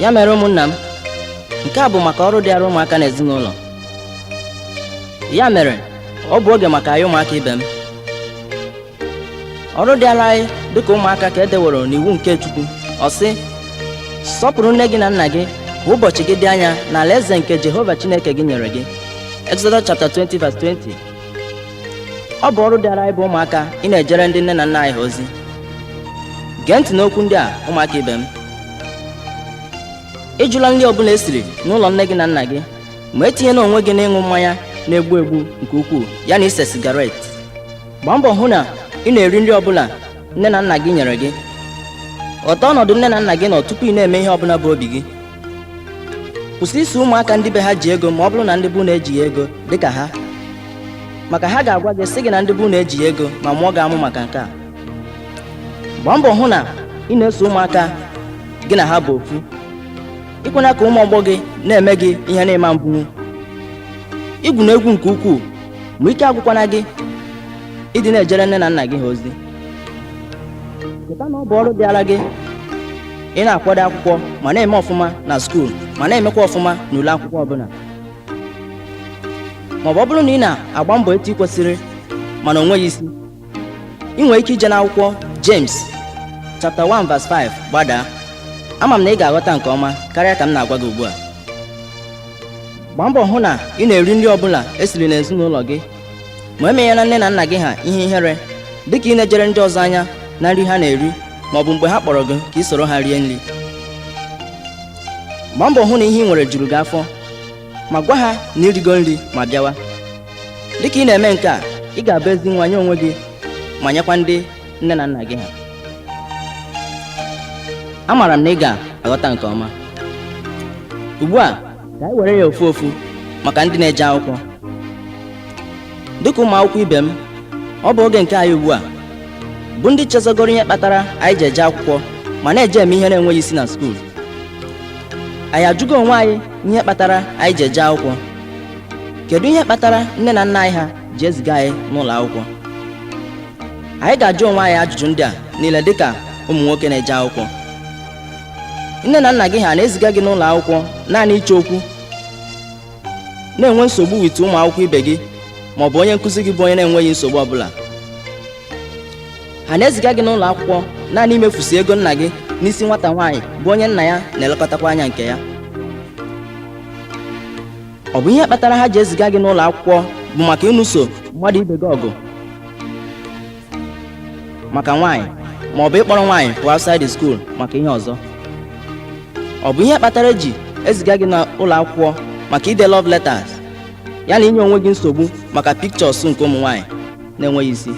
ya mere ụmụnna m nke a bụ maka ọrụ dịara ụmụaka n'ezinụlọ ya mere ọ bụ oge maka anyị ụmụaka ibe m ọrụ dịara anyị dịka ụmụaka ka e deworo n'iwu nke Chukwu ọ sị sọpụrụ nne gị na nna gị ka ụbọchị gị dị anya n'ala eze nke Jehova Chineke gị nyere gị Exodus chapter 20 verse 20 ọ bụ ọrụ dịara anyị bụ ụmụaka ị na-ejere ndị nne na nna anyị ha ozi gee ntị n'okwu ndị a ụmụaka ibe m ịjụla nri ọbụla esiri n'ụlọ nne gị na nna gị ma etinyena onwe gị n'ịṅụ mmanya na-egbu egbu nke ukwuu ya na ise sigaret gbaa mbọ hụ na ị na-eri nri ọbụla nne na nna gị nyere gị ghọta ọnọdụ nne na nna gị nọ tupu ị na-eme ihe ọbụla bụ obi gị kwụsị iso ụmụaka ndị be ha ji ego ma ọ bụrụ na ndị be unu ejighị ego dịka ha maka ha ga-agwa gị sị gị na ndị be unu ejighị ego ma mụọ gị amụ maka nke a gbaa mbọ hụ na ị na-eso ụmụaka gị na ha bụ ofu ikwena ka ụmụ ọgbọ gị na-eme gị ihe na-eme mbụ igwuna egwu nke ukwuu ma ike agwụkwana gị ịdị na-ejere nne na nna gị ha ozi cheta na ọ bụ ọrụ dịara gị ị na-akwado akwụkwọ ma na-eme ọfụma na skuul ma na-emekwa ọfụma n'ule akwụkwọ ọbụla maọbụ ọ bụrụ na ị na-agba mbọ etu ị kwesịrị mana o nweghị isi ị nwere ike ije n'akwụkwọ James chapter 1 verse 5 gbadaa ama m na ị ga-aghọta nke ọma karịa ka m na-agwa gị ugbu a gbaa mbọ hụ na ị na-eri nri ọbụla esiri n'ezinụlọ gị ma emenyela nne na nna gị ha ihe ihere dịka ị na-eje ele ndị ọzọ anya na nri ha na-eri ma ọ bụ mgbe ha kpọrọ gị ka ị soro ha rie nri gbaa mbọ hụ na ihe ị nwere juru gị afọ ma gwa ha na i rigo nri ma bịawa dịka ị na-eme nke a ị ga-abụ ezi nwa nye onwe gị ma nyekwa ndị nne na nna gị ha amaara m na ị ga-aghọta nke ọma ugbu a ka anyị were ya ofu ofu maka ndị na-eje akwụkwọ dịka ụmụ akwụkwọ ibe m ọ bụ oge nke anyị ugbu a bụ ndị chezọgoro ihe kpatara anyị ji eje akwụkwọ ma na-eje eme ihe na-enweghị isi na skuul anyị ajụgo onwe anyị ihe kpatara anyị ji eje akwụkwọ kedu ihe kpatara nne na nna anyị ha ji eziga anyị n'ụlọ akwụkwọ anyị ga-ajụ onwe anyị ajụjụ ndị a niile dịka ụmụ nwoke na-eje akwụkwọ nne na nna gị ha na-eziga gị n'ụlọ akwụkwọ naanị ịchọ okwu na-enwe nsogbu with ụmụ akwụkwọ ibe gị ma ọ bụ onye nkụzi gị bụ onye na-enweghị nsogbu ọbụla ha na-eziga gị n'ụlọ akwụkwọ naanị imefusi ego nna gị n'isi nwata nwaanyị bụ onye nna ya na-elekọtakwa anya nke ya ọ bụ ihe kpatara ha ji eziga gị n'ụlọ akwụkwọ bụ maka ịnụso mmadụ ibe gị ọgụ maka nwaanyị ma ọ bụ ịkpọrọ nwaanyị pụọ outside the school maka ihe ọzọ ọ bụ ihe kpatara eji eziga gị n'ụlọ akwụkwọ maka ide love letters ya na inye onwe gị nsogbu maka pictures nke ụmụ nwaanyị na-enweghị isi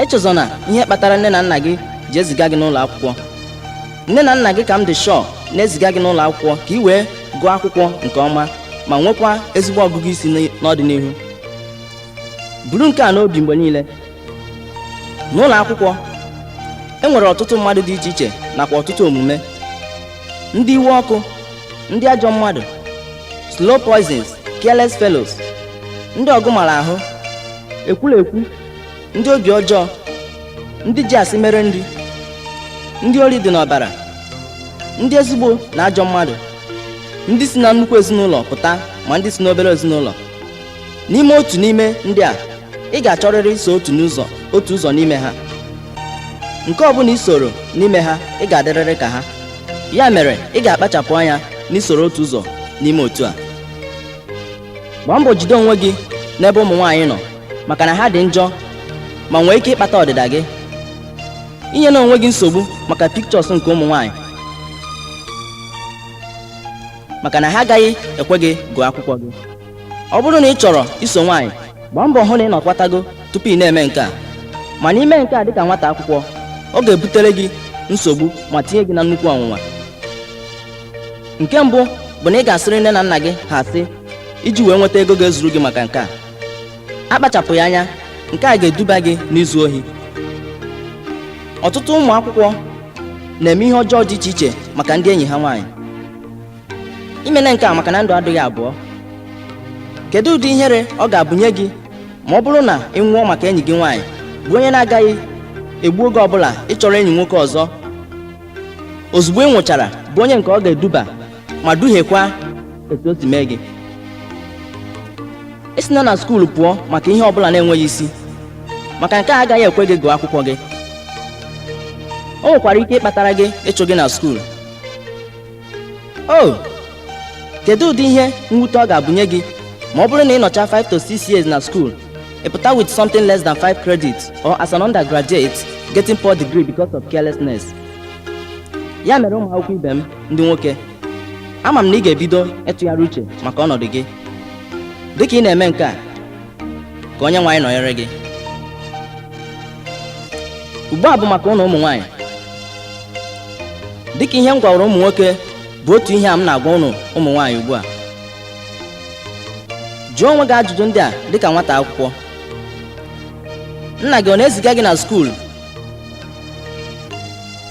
echezọna ihe kpatara nne na nna gị ji eziga gị n'ụlọ akwụkwọ nne na nna gị ka m dị sure na-eziga gị n'ụlọ akwụkwọ ka ị wee gụọ akwụkwọ nke ọma ma nwekwa ezigbo ọgụgụ isi n'ị- n'ọdịnihu buru nke a n'obi mgbe niile n'ụlọ akwụkwọ e nwere ọtụtụ mmadụ dị iche iche nakwa ọtụtụ omume ndị iwe ọkụ ndị ajọ mmadụ slow poisons careless fellows ndị ọgụ mara ahụ ekwulekwu ndị obi ọjọọ ndị ji asị mere nri ndị ori dị n'ọbara ndị ezigbo na ajọ mmadụ ndị si na nnukwu ezinụlọ pụta ma ndị si n'obere ezinụlọ n'ime otu n'ime ndị a ị ga-achọrịrị iso otu ụzọ otu ụzọ n'ime ha nke ọ bụla i soro n'ime ha ị ga-adịrịrị ka ha ya mere ị ga-akpachapụ anya n'isoro otu ụzọ n'ime otu a gbaa mbọ jide onwe gị n'ebe ụmụ nwaanyị nọ maka na ha dị njọ ma nwee ike ịkpata ọdịda gị inyena onwe gị nsogbu maka pictures nke ụmụ nwaanyị maka na ha agaghị ekwe gị gụọ akwụkwọ gị ọ bụrụ na ị chọrọ iso nwaanyị gbaa mbọ hụ na ị nọkwatago tupu ị na-eme nke a mana ime nke a dịka nwata akwụkwọ ọ ga-ebutere gị nsogbu ma tinye gị na nnukwu ọnwụnwa nke mbụ bụ na ị ga-asịrị nne na nna gị ha asị iji wee nweta ego ga-ezuru gị maka nke a akpachapụghị anya nke a ga-eduba gị n'izu ohi ọtụtụ ụmụ akwụkwọ na-eme ihe ọjọọ dị iche iche maka ndị enyi ha nwaanyị imene nke a maka na ndụ adịghị abụọ kedu ụdị ihere ọ ga-abụnye gị ma ọ bụrụ na ị nwụọ maka enyi gị nwaanyị bụ onye na-agaghị egbu oge ọbụla ịchọrọ enyi nwoke ọzọ ozugbo ị nwụchara bụ onye nke ọ ga-eduba ma duhiekwa etu o si mee gị esina na skuulu pụọ maka ihe ọbụla na-enweghị isi maka nke a agaghị ekwe gị gụọ akwụkwọ gị o nwekwara ike ịkpatara gị ịchụ gị na skuulu o kedu ụdị ihe mwute ọ ga-abụnye gị ma ọ bụrụ na ị nọcha 5 to 6 years na school ị pụta with something less than 5 credits or as an undergraduate getting poor degree because of carelessness ya mere ụmụ akwụkwọ ibe m ndị nwoke ama m na ị ga-ebido ịtụgharị uche maka ọnọdụ gị dịka ị na-eme nke a ka Onyenwe anyị nọnyere gị ugbu a bụ maka ụnụ ụmụ nwaanyị dịka ihe m gwawara ụmụ nwoke bụ otu ihe a m na-agwa ụnụ ụmụ nwaanyị ugbu a jụọ onwe gị ajụjụ ndị a dịka nwata akwụkwọ nna gị ọ na-eziga gị na skuul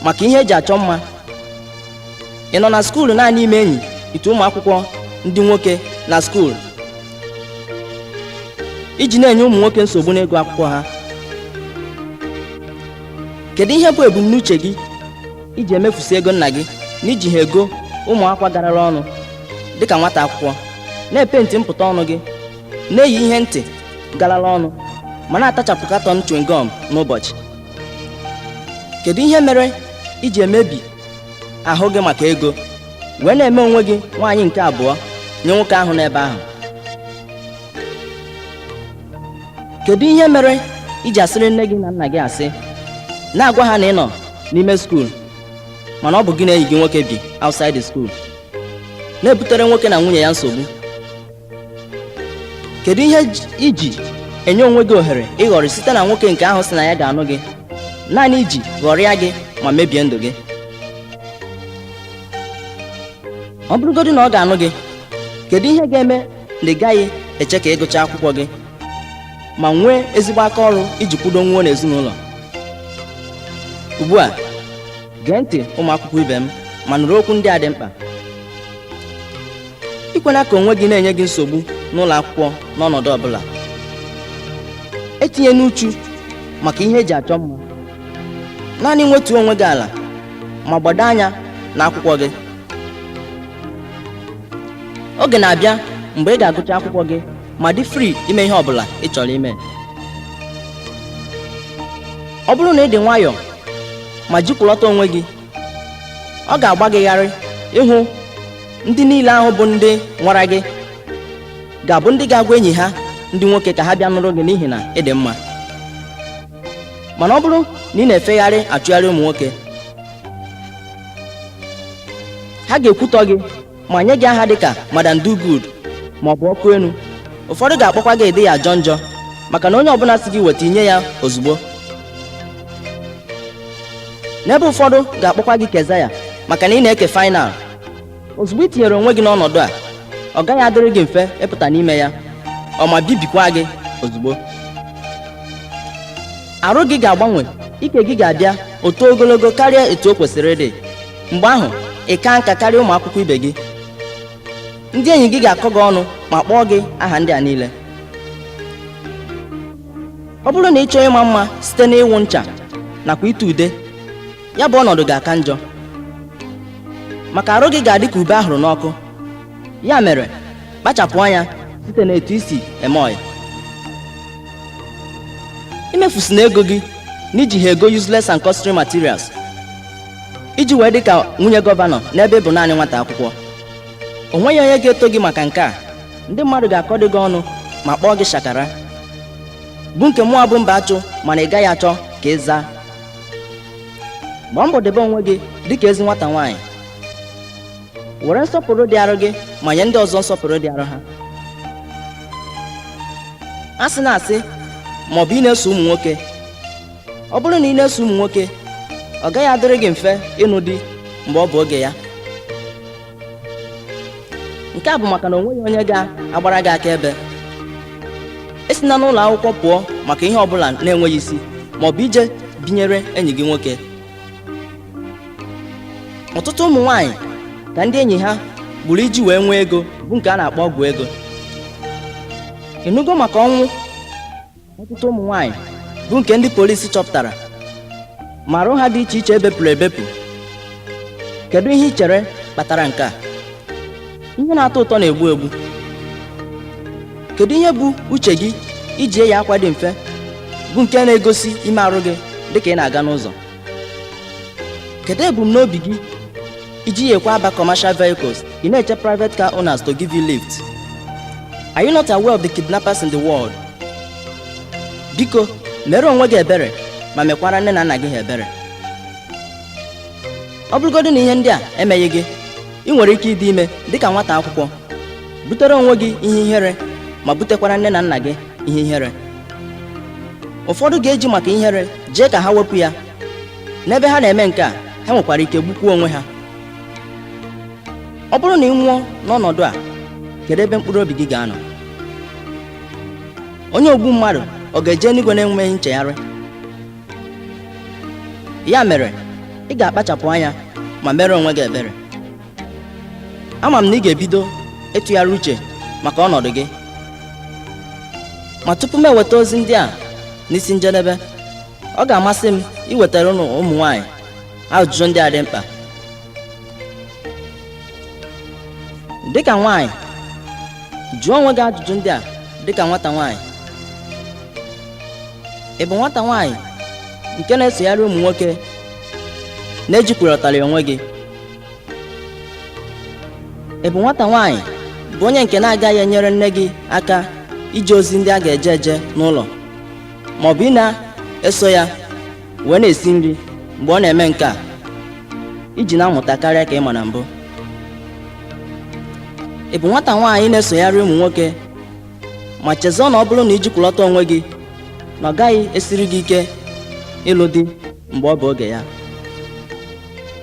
maka ihe eji achọ mma ị nọ na skuul naanị ime enyi ite ụmụ akwụkwọ ndị nwoke na skuul iji na-enye ụmụ nwoke nsogbu n'ịgụ akwụkwọ ha kedu ihe bụ ebumnuche gị iji emefusi ego nna gị na iji ha ego ụmụ akwa garara ọnụ dịka nwata akwụkwọ na-epenti mpụta ọnụ gị na-eyi ihe ntị garara ọnụ ma na-atachapụ katọn chewing gum n'ụbọchị kedu ihe mere iji emebi ahụ gị maka ego wee na-eme onwe gị nwaanyị nke abụọ nye nwoke ahụ n'ebe ahụ kedu ihe mere iji asịrị nne gị na nna gị asị na-agwa ha na ị nọ n'ime skuul mana ọ bụ gị na enyi gị nwoke bi outside the school na-ebutere nwoke na nwunye ya nsogbu kedu ihe j- iji enye onwe gị ohere ịghọrị site na nwoke nke ahụ sị na ya ga-anụ gị naanị iji ghọrịa gị ma mebie ndụ gị ọ bụrụgodị na ọ ga-anụ gị kedu ihe ga-eme na ị gaghị eche ka ị gụchaa akwụkwọ gị ma nwee ezigbo aka ọrụ iji kwudonwuo n'ezinụlọ ugbu a gee ntị ụmụ akwụkwọ ibe m ma nụrụ okwu ndị a dị mkpa ekwena ka onwe gị na-enye gị nsogbu n'ụlọ akwụkwọ n'ọnọdụ ọbụla etinyena uchu maka ihe eji achọ mma naanị wetuo onwe gị ala ma gbado anya na akwụkwọ gị oge na-abịa mgbe ị ga-agụcha akwụkwọ gị ma dị free ime ihe ọbụla ị chọrọ ime ọ bụrụ na ị dị nwayọọ ma jikọlata onwe gị ọ ga-agba gị gharị ịhụ ndị niile ahụ bụ ndị nwara gị ga-abụ ndị ga-agwa enyi ha ndị nwoke ka ha bịa nụrụ gị n'ihi na ị dị mma mana ọ bụrụ na ị na-efegharị achụgharị ụmụ nwoke ha ga-ekwutọ gị ma nye gị aha dịka Madam Do Good ma ọ bụ ọkụ enu ụfọdụ ga-akpọkwa gị ị dịghị ajọ njọ maka na onye ọbụla sị gị weta i nye ya ozugbo n'ebe ụfọdụ ga-akpọkwa gị Kezaya maka na ị na-eke final ozugbo ị tinyere onwe gị n'ọnọdụ a ọ gaghị adịrị gị mfe ịpụta n'ime ya ọ ma bibikwa gị ozugbo arụ gị ga-agbanwe ike gị ga-abịa eto ogologo karịa etu o kwesịrị ịdị mgbe ahụ ị kaa nka karịa ụmụ akwụkwọ ibe gị ndị enyi gị ga-akọ gị ọnụ ma kpọọ gị aha ndị a niile ọ bụrụ na ị chọọ ịma mma site n'ịwụ ncha nakwa ite ude ya bụ ọnọdụ ga-aka njọ maka arụ gị ga-adị ka ube a hụrụ n'ọkụ ya mere kpachapụ anya site n'etu i si eme ọyị imefusina ego gị n'iji ha ego useless and costly materials iji wee dị ka nwunye gọvanọ n'ebe ị bụ naanị nwata akwụkwọ o nweghị onye ga-eto gị maka nke a ndị mmadụ ga-akọdị gị ọnụ ma kpọọ gị shakara bụ nke mụa bụ mbachu ma na ị gaghị achọ ka ị zaa gbaa mbọ debe onwe gị dị ka ezi nwata nwaanyị were nsọpụrụ dị arụ gị ma nye ndị ọzọ nsọpụrụ dị arụ ha asịna asị ma ọ bụ ị na-eso ụmụ nwoke ọ bụrụ na ị na-eso ụmụ nwoke ọ gaghị adịrị gị mfe ịnụ di mgbe ọ bụ oge ya nke a bụ maka na o nweghị onye ga-agbara gị akaebe esina n'ụlọ akwụkwọ pụọ maka ihe ọbụla na-enweghị isi ma ọ bụ ije binyere enyi gị nwoke ọtụtụ ụmụ nwaanyị ka ndị enyi ha gburu iji wee nwee ego bụ nke a na-akpọ ọgwụ ego ị nụgo maka ọnwụ ọtụtụ ụmụ nwaanyị bụ nke ndị polisi chọpụtara ma arụ ha dị iche iche e bepụrụ ebepụ kedu ihe ị chere kpatara nke a ihe na-atọ ụtọ na-egbu egbu kedu ihe bụ uche gị iji eyi akwa dị mfe bụ nke na-egosi ime arụ gị dịka ị na-aga n'ụzọ kedu ebumnobi gị i jighikwa aba commercial vehicles ị na-eche private car owners to give you lift are you not aware of the kidnappers in the world biko mere onwe gị ebere ma mekwara nne na nna gị ha ebere ọ bụrụgodị na ihe ndị a emeghị gị ị nwere ike ịdị ime dịka nwata akwụkwọ butere onwe gị ihe ihere ma butekwara nne na nna gị ihe ihere ụfọdụ ga-eji maka ihere jee ka ha wepụ ya n'ebe ha na-eme nke a ha nwekwara ike gbukwuo onwe ha ọ bụrụ na ị nwụọ n'ọnọdụ a kedu ebe mkpụrụ obi gị ga-anọ onye ogbu mmadụ ọ ga-eje n'igwe na-enweghị nchegharị ya mere ị ga-akpachapụ anya ma mere onwe gị ebere ama m na ị ga-ebido ịtụgharị uche maka ọnọdụ gị ma tupu m eweta ozi ndị a n'isi njedebe ọ ga-amasị m iwetara ụnụ ụmụ nwanyị ajụjụ ndị a dị mkpa dịka nwanyị jụọ onwe gị ajụjụ ndị a dịka nwata nwanyị ị bụ nwata nwanyị nke na-esogharị ụmụ nwoke na-ejikwurọtara onwe gị ị bụ nwata nwaanyị bụ onye nke na-agaghị enyere nne gị aka ije ozi ndị a ga-eje eje n'ụlọ ma ọ bụ ị na-eso ya wee na-esi nri mgbe ọ na-eme nke a iji na-amụta karịa ka ị ma na mbụ ị bụ nwata nwaanyị na-esogharị ụmụ nwoke ma chezọọ na ọ bụrụ na ijikwulọta onwe gị na ọ gaghị esiri gị ike ịlụ di mgbe ọ bụ oge ya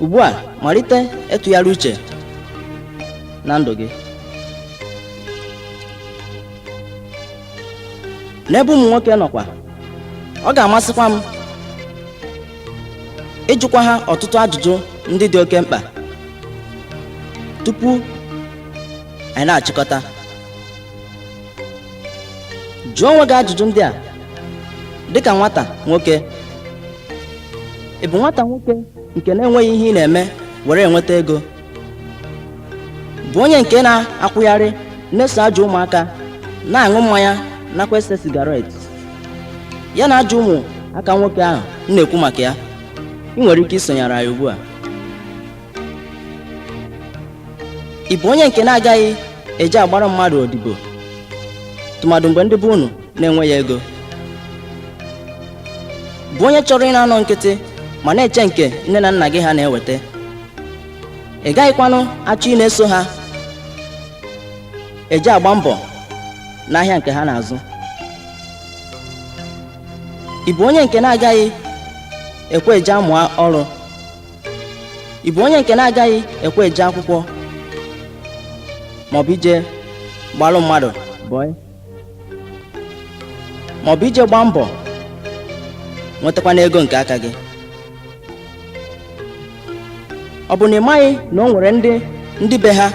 ugbu a malite ịtụgharị uche na ndụ gị n'ebe ụmụ nwoke nọkwa ọ ga-amasịkwa m ịjụkwa ha ọtụtụ ajụjụ ndị dị oke mkpa tupu anyị na-achịkọta jụọ onwe gị ajụjụ ndị a dịka nwata nwoke ị bụ nwata nwoke nke na-enweghị ihe ị na-eme were enweta ego bụ onye nke na-akwụgharị na-eso ajọ ụmụaka na-aṅụ mmanya nakwa ese sigaret ya na ajọ ụmụaka nwoke ahụ m na-ekwu maka ya ị nwere ike isonyere anyị ugbu a ị bụ onye nke na-agaghị eje agbara mmadụ odibo tụmadụ mgbe ndị be unu na-enweghị ego bụ onye chọrọ ị na-anọ nkịtị ma na-eche nke nne na nna gị ha na-eweta ị gaghịkwanụ achọ ị na-eso ha eje agba mbọ n'ahịa nke ha na-azụ ị bụ onye nke na-agaghị ekwe eje amụ ọrụ ị bụ onye nke na-agaghị ekwe eje akwụkwọ maọbụ ije gbalụ mmadụ bọị maọbụ ije gbaa mbọ nwetakwanụ ego nke aka gị ọ bụ na ị maghị na o nwere ndị ndị be ha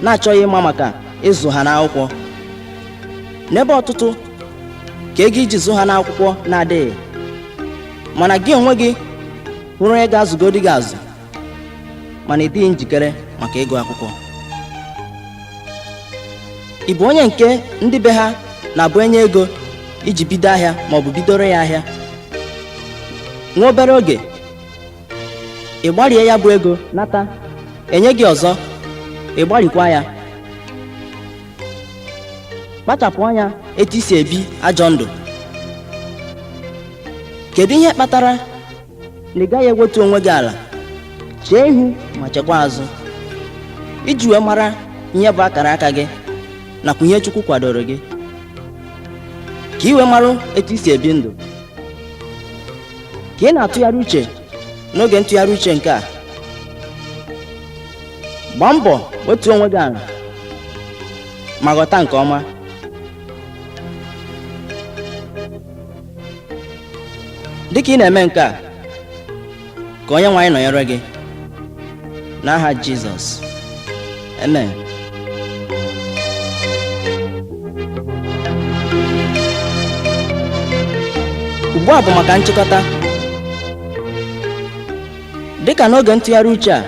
na-achọghị ịma maka ịzụ ha n'akwụkwọ n'ebe ọtụtụ ka ego iji zụ ha n'akwụkwọ na-adịghị mana gị onwe gị hụrụ onye ga-azụgodi gị azụ mana ị dịghị njikere maka ịgụ akwụkwọ ị bụ onye nke ndị be ha na-abụ e nye ego iji bido ahịa ma ọ bụ bidoro ya ahịa nwa obere oge ị gbarie ya bụ ego nata e nye gị ọzọ ị gbarikwa ya kpachapụ anya etu i si ebi ajọ ndụ kedu ihe kpatara na ị gaghị ewetu onwe gị ala chee ihu ma chekwa azụ iji wee mara ihe bụ akara aka gị nakwa ihe Chukwu kwadoro gị ka i wee mara etu i si ebi ndụ ka ị na-atụgharị uche n'oge ntụgharị uche nke a gbaa mbọ wetuo onwe gị ala ma ghọta nke ọma dịka ị na-eme nke a ka onye nwe anyị nọnyere gị n'aha jizọs amen ugbu a bụ maka nchịkọta dịka n'oge ntụgharị uche a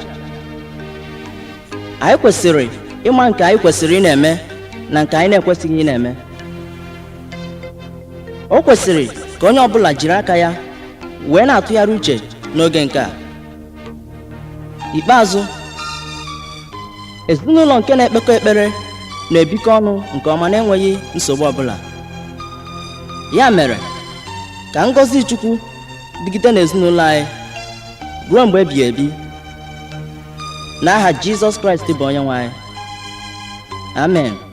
anyị kwesịrị ịma nke anyị kwesịrị ị na-eme na nke anyị na-ekwesịghị ị na-eme o kwesịrị ka onye ọbụla jiri aka ya wee na-atụgharị uche n'oge nke a ikpeazụ ezinụlọ nke na-ekpekọ ekpere na-ebikọ ọnụ nke ọma na-enweghị nsogbu ọbụla ya mere ka ngọzi chukwu dịgide n'ezinụlọ anyị ruo mgbe ebighị ebi n'aha jizọs kraịst bụ onye nwe anyị amen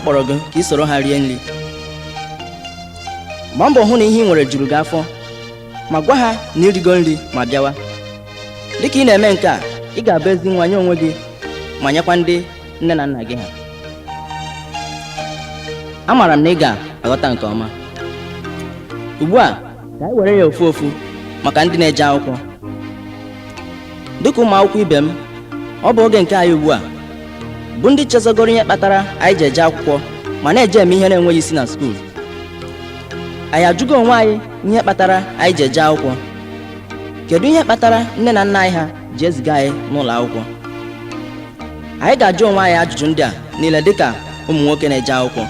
kpọrọ gị ka i soro ha rie nri gbaa mbọ hụ na ihe i nwere juru gị afọ ma gwa ha na i rigo nri ma bịawa dịka ị na-eme nke a ị ga-abụ ezi nwa nye onwe gị ma nyekwa ndị nne na nna gị ha amaara m na ị ga-aghọta nke ọma ugbu a ka anyị were ya ofu ofu maka ndị na-eje akwụkwọ dịka ụmụ akwụkwọ ibe m ọ bụ oge nke anyị ugbu a bụ ndị chezogoro ihe kpatara anyị ji eje akwụkwọ ma na-eje eme ihe na-enweghị isi na skuul anyị ajụgo onwe anyị ihe kpatara anyị ji eje akwụkwọ kedu ihe kpatara nne na nna anyị ha ji eziga anyị n'ụlọ akwụkwọ anyị ga-ajụ onwe anyị ajụjụ ndị a niile dịka ụmụ nwoke na-eje akwụkwọ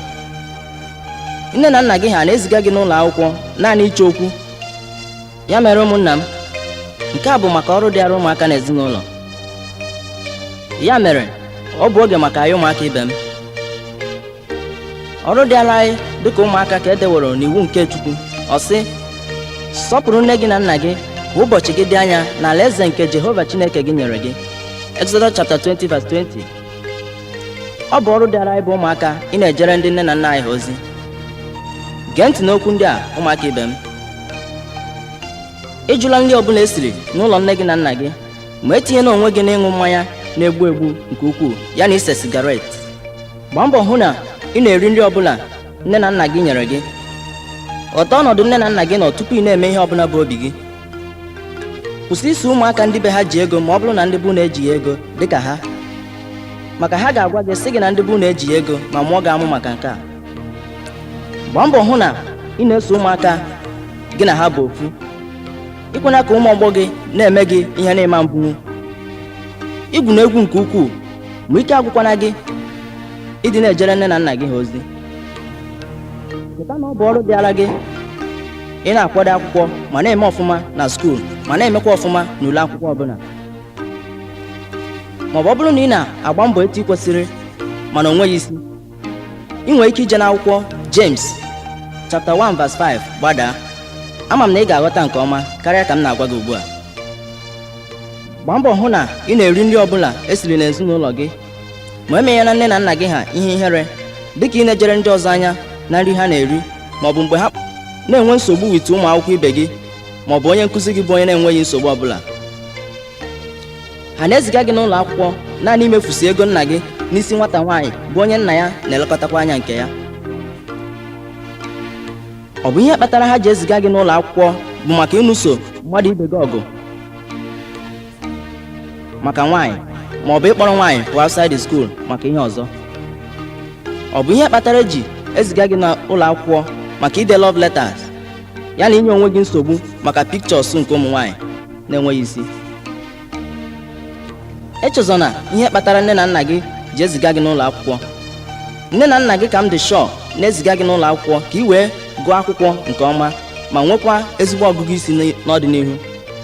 nne na nna gị ha na-eziga gị n'ụlọ akwụkwọ naanị ịchọ okwu ya mere ụmụnna m nke a bụ maka ọrụ dịara ụmụaka na ezinụlọ ya mere ọ bụ oge maka anyị ụmụaka ibe m ọrụ dịara anyị dịka ụmụaka ka e deworo n'iwu nke Chukwu ọ sị sọpụrụ nne gị na nna gị ka ụbọchị gị dị anya n'ala eze nke Jehova Chineke gị nyere gị Exodus chapter 20 verse 20 ọ bụ ọrụ dịara anyị bụ ụmụaka ị na-ejere ndị nne na nna anyị ha ozi gee ntị n'okwu ndị a ụmụaka ibe m ịjụla nri ọbụla esiri n'ụlọ nne gị na nna gị ma etinyena onwe gị n'ịṅụ mmanya na-egbu egbu nke ukwuu ya na ise sigaret gbaa mbọ hụ na ị na-eri nri ọbụla nne na nna gị nyere gị ghọta ọnọdụ nne na nna gị nọ tupu ị na-eme ihe ọbụla bụ obi gị kwụsị iso ụmụaka ndị be ha ji ego ma ọ bụrụ na ndị be unu ejighị ego dịka ha maka ha ga-agwa gị sị gị na ndị be unu ejighị ego ma mụọ gị amụ maka nke a gbaa mbọ hụ na ị na-eso ụmụaka gị na ha bụ ofu ikwena ka ụmụ ọgbọ gị na-eme gị ihe na-eme mbunwu igwu na egwu nke ukwuu ma ike agwụkwana gị ịdị na-ejere nne na nna gị ha ozi cheta na ọ bụ ọrụ dịara gị ị na-akwado akwụkwọ ma na-eme ọfụma na skuul ma na-emekwa ọfụma n'ule akwụkwọ ọbụla maọbụ ọ bụrụ na ị na-agba mbọ etu ị kwesịrị mana o nweghị isi ị nwere ike ije n'akwụkwọ James chapter 1 verse 5 gbadaa ama m na ị ga-aghọta nke ọma karịa ka m na-agwa gị ugbu a gbaa mbọ hụ na ị na-eri nri ọbụla esiri n'ezinụlọ gị ma emenyena nne na nna gị ha ihe ihere dịka ị na-ejere ndị ọzọ anya na nri ha na-eri ma ọ bụ mgbe ha na-enwe nsogbu with ụmụ akwụkwọ ibe gị ma ọ bụ onye nkụzi gị bụ onye na-enweghị nsogbu ọbụla ha na-eziga gị n'ụlọ akwụkwọ naanị imefusi ego nna gị n'isi nwata nwaanyị bụ onye nna ya na-elekọtakwa anya nke ya ọ bụ ihe kpatara ha ji eziga gị n'ụlọ akwụkwọ bụ maka ịnụso mmadụ ibe gị ọgụ maka nwaanyị ma ọ bụ ịkpọrọ nwaanyị pụọ outside the school maka ihe ọzọ ọ bụ ihe kpatara eji eziga gị n'ụlọ akwụkwọ maka ide love letters ya na inye onwe gị nsogbu maka pictures nke ụmụ nwaanyị na-enweghị isi echezọna ihe kpatara nne na nna gị ji eziga gị n'ụlọ akwụkwọ nne na nna gị ka m dị sure na-eziga gị n'ụlọ akwụkwọ ka ị wee gụọ akwụkwọ nke ọma ma nwekwa ezigbo ọgụgụ isi n'ọdịnihu